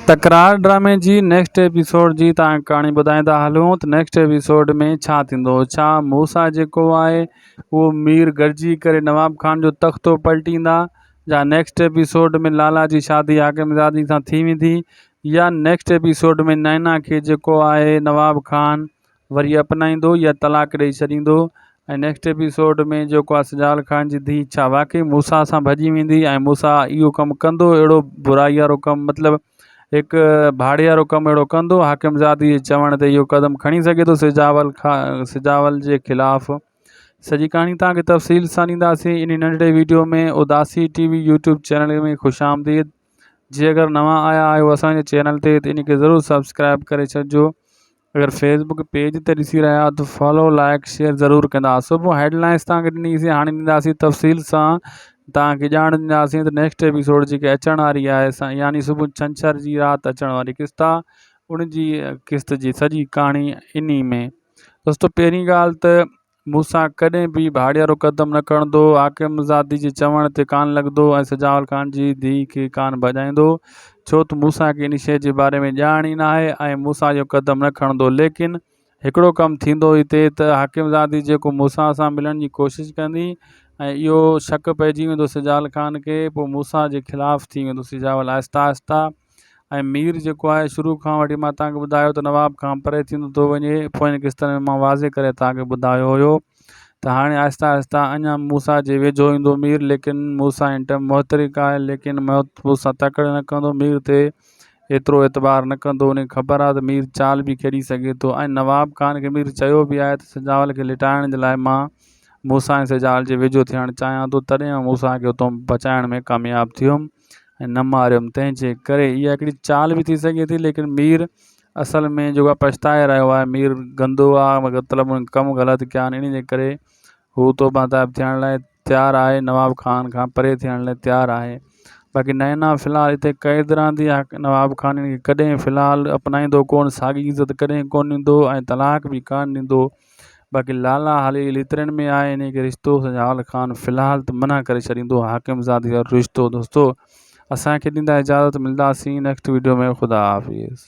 تڪرار ڊرامي جي نيڪسٽ ايپيسوڊ جي تان ڪهاڻي ٻڌائيندا هلون ته نيڪسٽ ايپيسوڊ ۾ ڇا ٿيندو ڇا موسيٰ جيڪو آهي اهو مير گڏجي ڪري نواب خان جو تختو پلٽيندا جا نيڪسٽ ايپيسوڊ ۾ لالا جي شادي حاڪم زادي سان ٿي ويندي يا نيڪسٽ ايپيسوڊ ۾ نائنا کي جيڪو آهي نواب خان وري اپنائيندو يا طلاق ڏئي ڇڏيندو ۽ نيڪسٽ ايپيسوڊ ۾ جيڪو آ سجال خان جي ڌي ڇا واقعي موسيٰ سان ڀڄي ويندي ۽ موسيٰ اهو ڪم ڪندو اهڙو برائي وارو ڪم مطلب هڪ ڀاڙي وارو ڪم اهڙو ڪندو حاڪم زادي جي چوڻ تي اهو قدم کڻي سگهي ٿو سجاول کا سجاول جي خلاف سڄي ڪهاڻي توهان کي تفصيل سان ڏينداسين انهي ننڍڙي ويڊيو ۾ اداسي ٽي وي يوٽيوب چينل ۾ خوش آمديد جي اگر نوان آيا آهيو اسان جي چينل تي ته ان کي ضرور سبسڪرائب ڪري ڇڏجو اگر فيس بڪ پيج تي ڏسي رهيا آهيو ته فالو لائڪ شيئر ضرور ڪندا صبح هيڊ لائنس تان ڏني سي هاڻي ڏينداسي تفصيل سان تان کي ڄاڻ ڏينداسين ته نيڪسٽ ايپيسوڊ جيڪي اچڻ واري آهي سا يعني صبح ڇنڇر جي رات اچڻ واري قسط آهي ان جي قسط جي سڄي ڪهاڻي اني ۾ دوستو پهرين ڳالهه ته مون سان ڪڏهن به ڀاڙيارو قدم نه کڻندو، حاڪم زادي جي چوڻ تي ڪان لڳندو ۽ سجاول خان جي ڌيء کي ڪان ڀڄائيندو، ڇو ته مون سان کي ان شيء جي باري ۾ ڄاڻ ئي ناهي ۽ مون سان اهو قدم نه کڻندو. ليڪن هڪڙو ڪم ٿيندو هتي ته حاڪم زادي جيڪو مون سان سان ملڻ جي ڪوشش ڪندي ۽ اهو شڪ پئجي ويندو سجاول خان کي، پوء مون سان جي خلاف ٿي ويندو. سجاول آهسته آهسته. ۽ مير جيڪو آهي شروع کان وٺي مان توهان کي ٻڌايو ته نواب کان پري ٿيندو ٿو وڃي پوئين قسطن ۾ مان واضح ڪري توهان کي ٻڌايو هيو ته هاڻي آهستي آهستي اڃا موسيٰ جي ويجهو ايندو مير ليڪن موسيٰ هن ٽائيم محترڪ آهي ليڪن موسيٰ تڪڙ نه ڪندو مير تي ايترو اعتبار نه ڪندو ان کي خبر آهي ته مير چال به کيڏي سگهي ٿو ۽ نواب خان کي مير چيو به آهي ته سجاول کي لٽائڻ جي لاء مان موسيٰ ۽ سجاول جي ويجهو ٿيڻ چاهيان ٿو تڏهن آئون موسيٰ کي اتان بچائڻ ۾ ڪامياب ٿيم ۽ نه ماريم تنهن جي ڪري اها هڪڙي چال به ٿي سگهي ٿي ليڪن مير اصل ۾ جيڪو آهي پڇتائي رهيو آهي مير گندو آهي مطلب ان ڪم غلط ڪيا آهن ان جي ڪري هو توبه تائب ٿيڻ لاء تيار آهي نواب خان کان پري ٿيڻ لاء تيار آهي باقي نينا في الحال هتي قيد رهندي آهي نواب خان ان کي ڪڏهن في الحال اپنائيندو ڪونه ساڳي عزت ڪڏهن ڪونه ڏيندو ۽ طلاق به ڪونه ڏيندو باقي لالا حالي جي ليترين ۾ آهي انهيء کي رشتو سجاول خان في الحال ته منع ڪري ڇڏيندو حاڪم زادي وارو رشتو دوستو اسان کي ڏيندا اجازت ملداسين نيڪسٽ ويڊيو ۾ خدا حافظ.